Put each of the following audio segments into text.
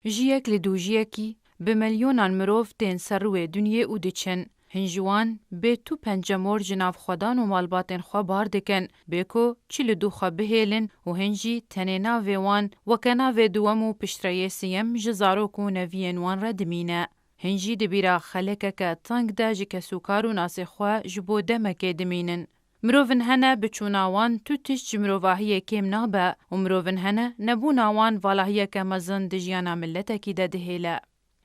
Jiyek li dûjiyekî bi milyonan mirov tên ser rûê dunyê û diçin. Hin ji wan bê tu pencemor ji nav xwedan û malbatên xwe bar dikin, bê ku çi li dû xwe bihêlin û hin jî tenê navê wan weke navê duwem û piştreyê siyem ji zarok û neviyên wan re dimîne. Hin jî di bîra xelekeke teng de ji kesûkar û nasê xwe ji bo demekê dimînin. Mirovin hene bi çûna wan tu tişt ji mirovahiyê kêm nabe û mirovin hene nebûna wan valahiyeke mezin di jiyana miletekî de dihêle.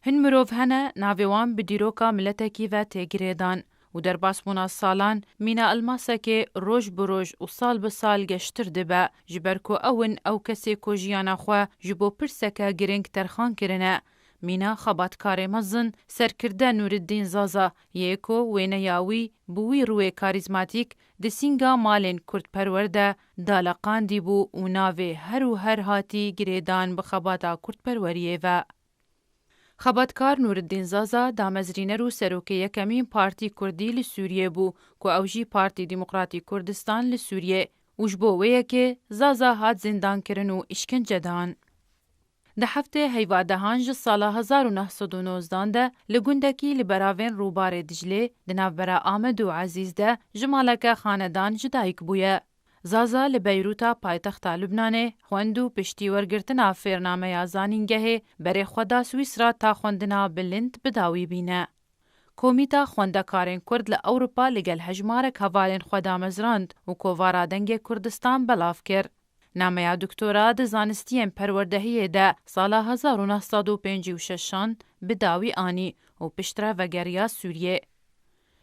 Hin mirov hene navê wan bi dîroka miletekî ve tê girêdan û derbasbûna salan mîna elmasekê roj bi roj û sal bi sal geştir dibe ji ber ku ew in ew kesê ku jiyana xwe ji bo pirseke girîng terxan kirine Mîna xebatkarê mezin, serkirde Nûriddîn Zaza yê ku wêneya wî bi wî rûyê karîzmatîk di sînga malên kurdperwer de daleqandî bû û navê her û her hatî girêdan bi xebata kurdperweriyê ve. Xebatkar Nûriddîn Zaza damezrîner û serokê yekemîn partî kurdî li Sûriyê bû ku ew jî Partî Demokratî Kurdistan li Sûriyê û ji bo wê yekê Zaza hat zîndankirin û îşkencedan. Di heftê heyvadehan ji sala hezar û neh sed û nozdan de li gundekî li beravên rûbarê Diclê di navbera Amed û Ezîz de ji maleke xanedan ji dayik bûye. Zaza li Beyrûta paytexta Lubnanê xwend û piştî wergirtina fêrnameya zanîngehê berê xwe da Swîsra ta xwendina bilind bi dawî bîne. Komîta Xwendekarên Kurd li Ewropa li gel hejmarek hevalên xwe damezrand û kovara Dengê Kurdistan belav kir. Nameya doktora di zanistiyên perwerdehiyê de sala hezar û neh sed û pêncî û şeş an bi dawî anî û piştre vegeriya Sûriyê.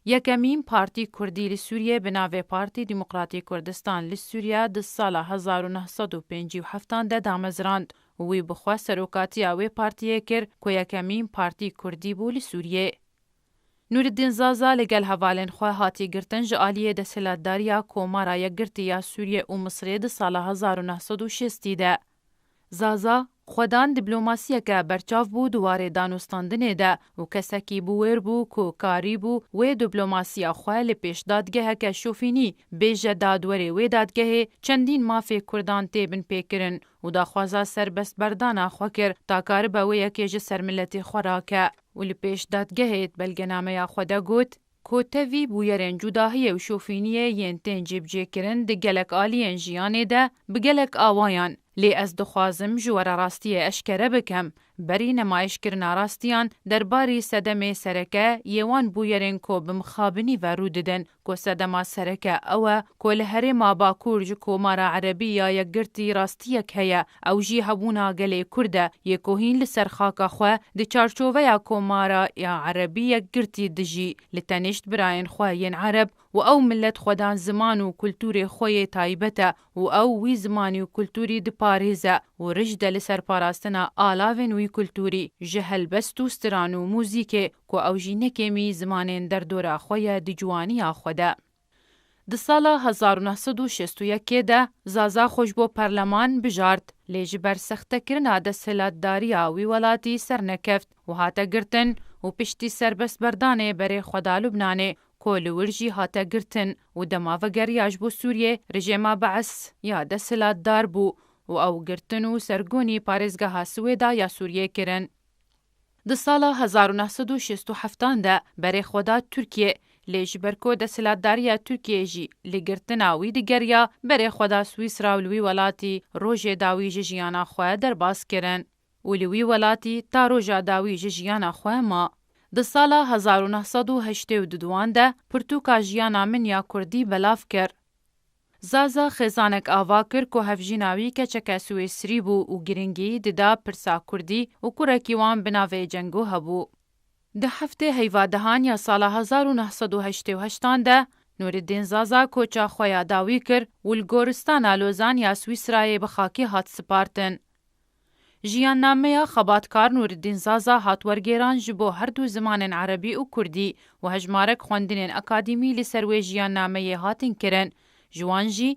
Yekemîn partî kurdî li Sûriyê bi navê Partî Demokratî Kurdistan li Sûriye di sala hezar û neh sed û pêncî û heft an de damezrand û wî bi xwe serokatiya wê partiyê kir ku yekemîn partî kurdî bû li Sûriyê. Nûriddîn Zaza li gel hevalên xwe hatiye girtin ji aliyê desthilatdariya Komara Yekgirtî ya Sûriyê û Misirê di sala hezar û neh sed û şêstî de. Zaza, Xwedan dîplomasiyeke berçav bû di warê danûstandinê de û kesekî bû wêr bû ku karîbû wê dîplomasiya xwe li pêş dadgeheke şofînî bêje dadwerê wê dadgehê çendîn mafê Kurdan tê binpêkirin û daxwaza serbestberdana xwe kir ta karibe wê yekê ji ser miletê xwe rake. û li pêş dadgehê di belgenameya xwe de got ku tevî bûyerên cudahiyê û şofîniyê yên tên cêbijêkirin di gelek aliyên jiyanê de bi gelek awayan lê ez dixwazim ji we re rastiyê eşkere bikim berî nemayîşkirina rastiyan derbarî sedemê sereke yê wan bûyerên ku bi mixabinî ve rû didin ku sedema sereke ew e ku li Herêma Bakur ji Komara Erebî ya Yekgirtî rastiyek heye, ew jî hebûna gelê Kurd e yê ku hîn li ser xaka xwe di çarçoveya Komara ya Erebî Yekgirtî dijî li tenêşt birayên xwe yên Ereb û ew milet xwedan ziman û kultûrê xwe yê taybet e û ew wî zimanî û kulturî diparêze û rij de li ser parastina alavên wî kulturî ji helbest û stiran û muzîkê ku ew jî ne kêmî zimanên derdora xwe ye di ciwaniya xwe de. Di sala hezar û neh sed û şêst û yek ê de Zaza xwe ji bo parleman bijart lê ji ber sextekirina desthilatdariya wî welatî sernekeft û hate girtin û piştî serbestberdanê berê xwe da Lubnanê ku li wir jî hate girtin û dema vegeriya ji bo Sûriyê rejêma BES ya desthilatdar bû û ew girtin û sergonî parêzgeha Swêda ya Sûriyê kirin. Di sala hezar û neh sed û şêst û heft an de berê xwe da Tirkiyê, lê ji ber ku desthilatdariya Tirkiyê jî li girtina wî digeriya, berê xwe da Swîsra û li wî welatî rojê dawî ji jiyana xwe derbas kirin. û li wî welatî ta roja dawî ji jiyana xwe ma. Di sala hezar û neh sed û heştê û du duan de pirtûka jiyana min ya kurdî belav kir. Zaza xêzanek ava kir ku hevjîna wî keçeke swêsrî bû û girîngî dida pirsa kurdî û kurekî wan bi navê Cengo hebû. Di heftê heyvadehan ya sala hezar û neh sed û heştê û heştan de Nûriddîn Zaza koça xwe ya dawî kir û li goristana Lozan ya Swîsrayê bi xakê hat sipartin. Jiyannameya xebatkar Nûriddîn Zaza hat wergêran ji bo her du zimanên erebî û kurdî û hejmarek xwendinên akadîmî li ser wê jiyannameyê hatin kirin. Ji wan jî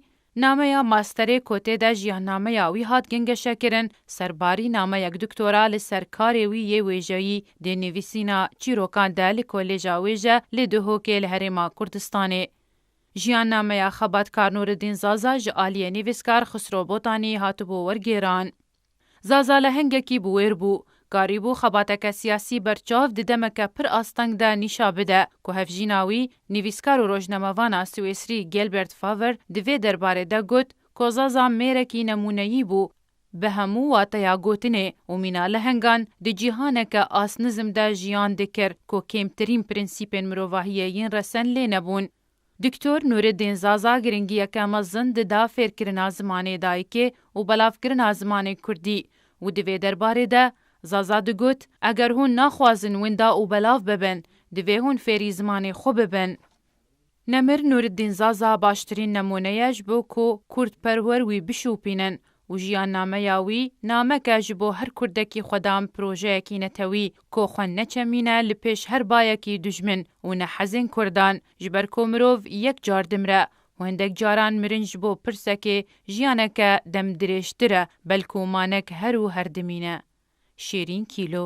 nameya masterê ku tê de jiyannameya wî hat gengeşekirin, serbarî nameyek doktora li ser karê wî yê wêjeyî dê nivîsîna çîrokan de li Kolêja Wêje li Duhokê li Herêma Kurdistanê. Jiyannameya xebatkar Nûriddîn Zaza ji aliyê nivîskar Xisro Botanî hatibû wergêran. Zaza lehengekî bi wêr bû. Karîbû xebateke siyasî berçav di demeke pir asteng de nîşa bide ku hevjîna wî, nivîskar û rojnamevana Swêsrî Gilbert Faver di vê derbarê de got ku Zaza mêrekî nemûneyî bû Bi hemû wateya gotinê û mîna lehengan di cîhaneke asnizm de jiyan dikir ku kêmtirîn prensîpên mirovahiyê yên resen lê nebûn. Doktor Nûredîn Zaza giringiyeke mezin dida fêrkirina zimanê dayikê û belavkirina zimanê kurdî û di vê derbarê de Zaza digot, Eger hûn naxwazin winda û belav bibin, divê hûn fêrî zimanê xwe bibin. Nemir Nûriddîn Zaza baştirîn nemûne ye ji bo ku kurdperwer wî bişûpînin û jiyannameya wî namek e ji bo her kurdekî xwedan projeyekî netewî ku xwe neçemîne li pêş her bayekî dijmin û nehezên kurdan ji ber ku mirov yek car dimire û hindek caran mirin ji bo pirsekê jiyaneke demdirêjtir e belkû manek her û her dimîne. Şêrîn Kîlo.